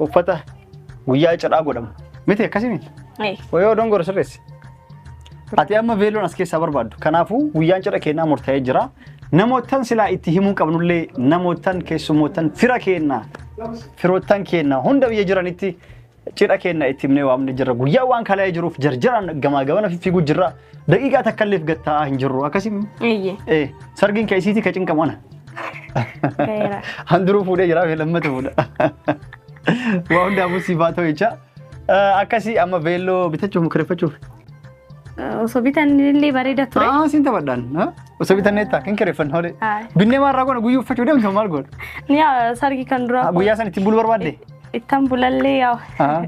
uffata guyyaa cidhaa godhamu. Miti akkasii miti. Ee, Wayoo dongora sirreessi. Ati amma veeloon as keessaa barbaaddu. Kanaafuu guyyaan cidha keenyaa murtaa'ee jira. Namoottan silaa itti himuu qabnullee namoottan keessummoottan fira keenna firoottan keenna hunda biyya jiranitti cidha keenna itti himnee waamne jirra. Guyyaa waan kala'ee jiruuf jarjaraan gamaa gamana fiiguu jirra. Daqiiqaa takkalleef gad taa'aa hin jirru akkasii. Eeyyee. Eh, sargiin kee isiitii ka cinqamu ana. Gaheera. Handuruu fuudhee jira fi lammata fuudha. Waa hundaafuu siif haa ta'u jecha. Eh, Akkasii amma veelloo bitachuuf kireeffachuuf. Osoo bitannillee bareeda ture. Ah, siin taphadhaan. ha? Osoo bitannee ta'a kan kireeffan hoolee. Haa. Binnee maarraa goona guyyuu uffachuu deemtu maal goona? Ni haa, sargi kan duraa. Guyyaa san ittiin bulu barbaadde? Ittan bulallee yaa Aha.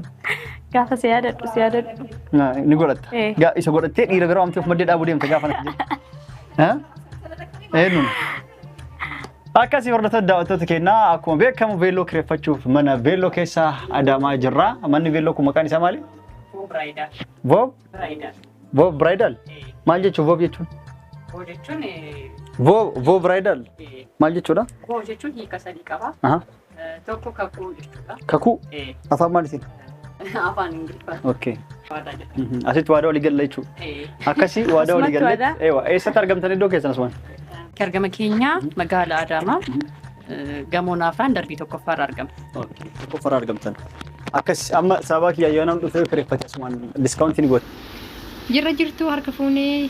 gaafa si yaadadhu si yaadadhu. Na- Ni godhatta. Eh. Gaa isa godhattee dhiira bira waamtee of maddee dhaabuu deemta gaafa natti jedhu. Ha? Eenyuun? Akkasii hordoftoota daawwattoota keenyaa akkuma beekamu veelloo kireeffachuuf mana veelloo keessa adaamaa jirra. Manni veelloo kun maqaan isaa maali? Biraayidal. Vob? Biraayidal. Vob Bridal? Maal jechuun Vob jechuun? Koo jechuun eh, Vob Vob Bridal? eh, maal jechuudha? koo jechuun hiika sadii qaba. Aha. Tokko kakuu jechuudha. Kakuu Ee, afaan maaliitiin? Afaan Ingiliffaa Okay. waadaa jedha. Mhm. Asitti waadaa walii galla jechuudha. Ee, Akkasii waadaa walii Asumatti galle. waadaa? Eewa. Eessatti argamtan iddoo keessan asumaan? Bakki argama keenyaa magaala Adaamaa eh, gamoo naafaan darbii tokkoffaa irra argama. Qofara argamtan. Akkas amma sababa kiyya yoo nam dhufee kireeffate asumaan diskaawuntiin goota. Jirra jirtu harka fuunee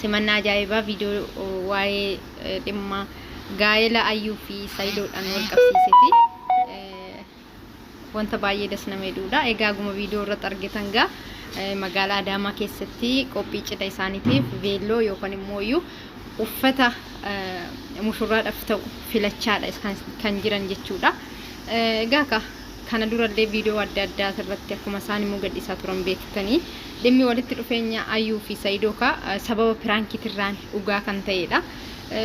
simannaa ajaa'ibaa viidiyoo waa'ee dhimma gaa'ela ayyuu fi sayidoodhaan wal qabsiisee fi wanta baay'ee das nama hidhuudha. Egaa guma viidiyoo irratti argitan gaa magaalaa Adaamaa keessatti qophii cidha isaaniitiif veelloo yookaan immoo iyyuu uffata mushurraadhaaf ta'u filachaadha kan jiran jechuudha. Egaa ka kana durallee viidiyoo adda addaa irratti akkuma isaan immoo gadhiisaa turan beektanii dhimmi walitti dhufeenya Ayuu fi Sayidoo kaa sababa piraankiitirraan dhugaa kan ta'edha.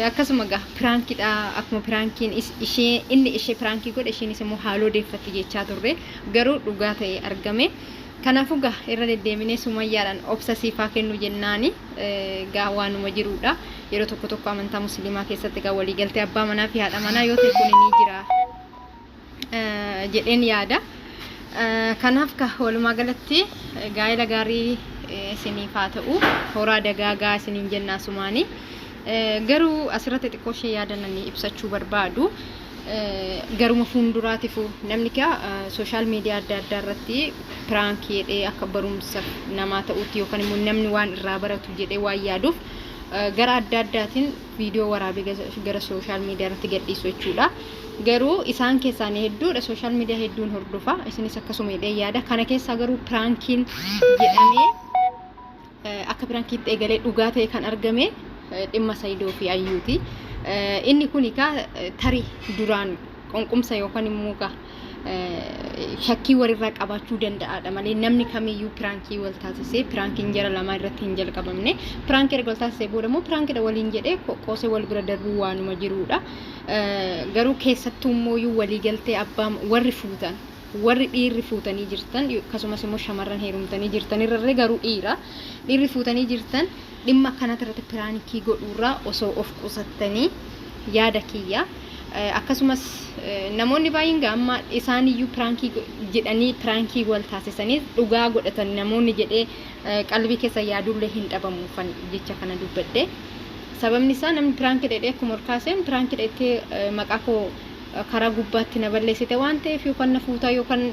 Akkasuma gaa piraankiidha akkuma piraankiin ishee inni ishee piraankii godhe isheenis immoo haaloo deeffatti jechaa turre garuu dhugaa ta'e argame. Kanaafuu gaa irra deddeebinee sumayyaadhaan obsa siifaa kennu jennaani gaa waanuma jiruudha. Yeroo tokko tokko amantaa musliimaa keessatti gaa waliigaltee abbaa manaa fi haadha manaa yoo ta'e kun ni jira. jedheen yaada. Kanaaf ka walumaa galatti gaa'ela gaarii isiniif haa ta'u horaa dagaagaa isiniin jenna asumaanii. Garuu asirratti xiqqoo ishee yaadananii ibsachuu barbaadu. Garuma fuulduraatifu namni kaa sooshaal miidiyaa adda addaa irratti piraankii jedhee akka barumsa namaa ta'utti yookaan immoo namni waan irraa baratu jedhee waan yaaduuf gara adda addaatiin viidiyoo waraabee gara sooshaal miidiyaa irratti gadhiisu jechuudha. Garuu isaan keessaan hedduudha sooshaal miidiyaa hedduun hordofa. Isinis akkasuma hidhee yaada. Kana keessaa garuu piraankiin jedhamee akka piraankiitti eegalee dhugaa ta'e kan argame dhimma Sayidoo fi Ayyuuti. Inni kun egaa tarii duraan qunqumsa yookaan immoo egaa shakkii walirraa qabaachuu danda'aadha malee namni kamiyyuu piraankii wal taasisee piraankiin jara lamaa irratti hin jalqabamne piraanki erga wal taasisee booda immoo piraankidha waliin jedhee qoosee wal bira darbuu waanuma jiruudha garuu keessattuu immoo walii galtee abbaa warri fuutan warri dhiirri fuutanii jirtan akkasumas immoo shamarran heerumtanii jirtan irrarree garuu dhiira dhiirri fuutanii jirtan Dhimma akkanaa irratti piraankii godhuurraa osoo of qusattanii yaada kiyya. Akkasumas namoonni baay'een gaa amma isaaniyyuu piraankii go- jedhanii piraankii wal taasisanii dhugaa godhatan namoonni jedhee eh, qalbii keessa yaadullee hin dhabamu kan jecha kana dubbadhe. Sababni isaa namni piraankii jedhee akkuma ol kaaseen piraankii jettee eh, maqaa koo eh, karaa gubbaatti na balleessite waan ta'eef yookaan na fuutaa yookaan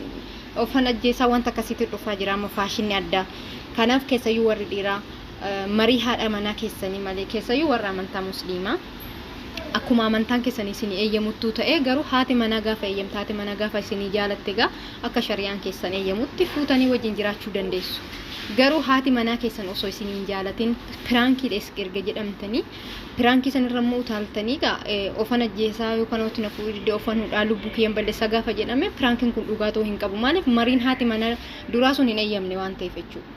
Ofan ajjeesaa wanta akkasiitu dhufaa jira amma faashinni addaa. Kanaaf keessayyuu warri dhiiraa marii haadha manaa keessanii malee keessayyuu warra amantaa musliimaa akkuma amantaan keessanii isinii eeyyamuttuu ta'ee garuu haati manaa gaafa eeyyamte haati manaa gaafa isinii jaalatte egaa akka shariyaan keessan eeyyamutti fuutanii wajjin jiraachuu dandeessu. Garuu haati manaa keessan osoo isinii hin jaalatin piraankiidha erga jedhamtanii Piraankii sanirra immoo utaaltanii gaa ofan ajjeesaa yookaan hoti na fuudhuu didde ofan hudhaa lubbuu kiyyan balleessaa gaafa jedhame piraankiin kun dhugaa ta'uu hin qabu. Maaliif mariin haati mana duraa sun hin eeyyamne waan ta'eef jechuudha.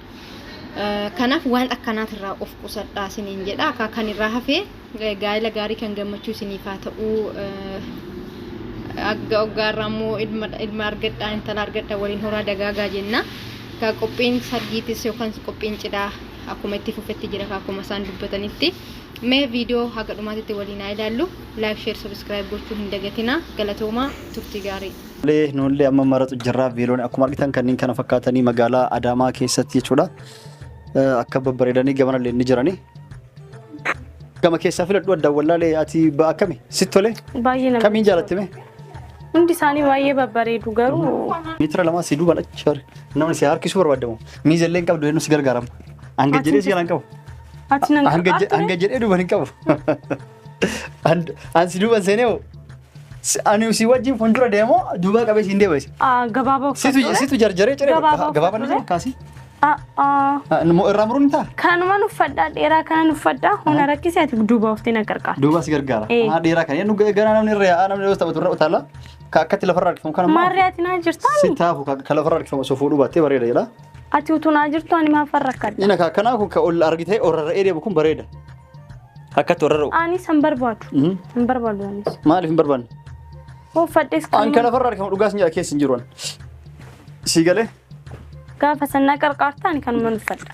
Kanaaf waan akkanaatirraa of qusadhaa isiniin jedha. Akka kan irraa hafee gaa'ela gaarii kan gammachuu isiniif haa ta'uu. Agga oggaarraa immoo ilma argadhaa intala argadhaa waliin horaa dagaagaa jenna. Qophiin sargiitis yookaan qophiin cidhaa akkuma itti fufetti jira ka akkuma isaan dubbatanitti mee viidiyoo haga dhumaatitti waliin haa ilaallu laayik sheer sabiskiraayib gochuu hin dagatinaa galatoomaa turtii gaarii Tole nuullee amma maratu jirra viiloon akkuma argitan kanneen kana fakkaatanii magaalaa Adaamaa keessatti jechuudha. Eh, Akka babbareedanii gamana illee ni jirani. Gama keessaa filadhu adda wallaalee ati ba- akkami sitti tole Baay'ee namatti kamiin jaalatte mee? Hundi isaanii baay'ee babbareedu garuu Meetira lamaa si duuban achi bari. Namni si harkisuu barbaadamu. Miiza illee hin qabdu eenyu si gargaarama. Hanga jedhee si jalaan qabu. Ati nan Hanga je- hanga jedhee duuban hin qabu. An- An si duuban seenee hoo. Si- Ani si wajjin fuuldura deemoo duubaa qabee siin deema isa. gabaabaa Situ uffadhu. situ jarjaree ciree Gabaabaa gabaabaa uffadhu. ni kaasii. Ah, ah. Ah, nu- Irraa muruun ni ta'a. Kanuman uffadhaa dheeraa kanan uffadhaa hona rakkisee ati duuba oftee na gargaara. Duubaa si gargaara. Eh. Ah, Dheeraa kan eenyu gara namni irra yaa'aa namni yoo taphatu irra utaala. Ka akkatti lafarra harkifamu kana Maarree ati naa jirtaan? si taafu ka ka lafarra harkifamu osoo fuudhuu baattee bareeda jedha. Ati utuu naa jirtu ani maaf rakkadha? Inni ka akkanaa kun ka ol argitee ol rarra'ee deemu kun bareeda. Akkatti ol rarra'u. Ani san barbaadu. Mhm. Hin barbaadu anis. Maaliif hin barbaanne? Uffadhees An ka kan lafarra harkifamu dhugaa sin jedha keessa hin jiru an. Sii galee? gaafa sannaa qarqaarta ani kanuman uffadha.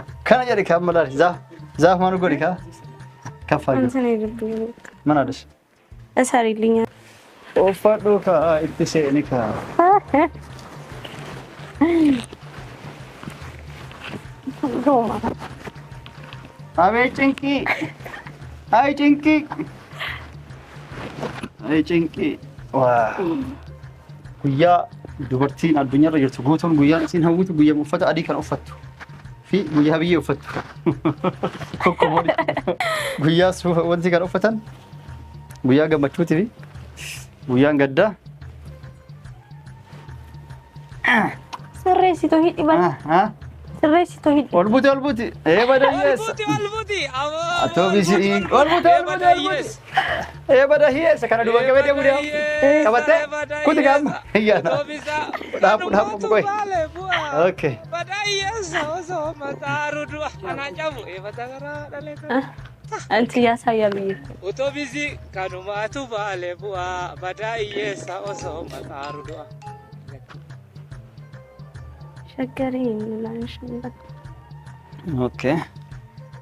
Akkana jedhe kan malaali zaaf zaaf maal godhi kaa kaffaa Kan jiru sana eegaltuu. mana dhis. Isaa riillinya. Uffadhu kaa itti seeni kaa. Gooma. Abee cinqii. Ayi cinqii. Ayi cinqii. Waa. Guyyaa dubartiin addunyaarra jirtu guutuun guyyaan isiin hawwitu guyyaa uffata adii kan uffattu fi guyyaa biyyee uffattu. Kokkoboon guyyaa suufa wanti kan uffatan guyyaa gammachuuti fi guyyaan gaddaa. Sirreessitu hidhi bal. Ah, ah. Sirreessitu hidhi. Ol buti ol buti. Ee badayyeessa. Olbuti olbuti. Atoo bisi'ii. Ol buti ol buti ol buti. Ee bada hiyeessa kana duba qabee deemu deemu. Qabattee kuti gaamma. Iyyaana. Dhaabu dhaabu bukoy. Okay. Anti yaa saa yaa biyya. Otobisii kanumaatu baale bu'aa badaa hiyyeessa osoo maxaaru du'a. Shaggariin naan shambata. Okay.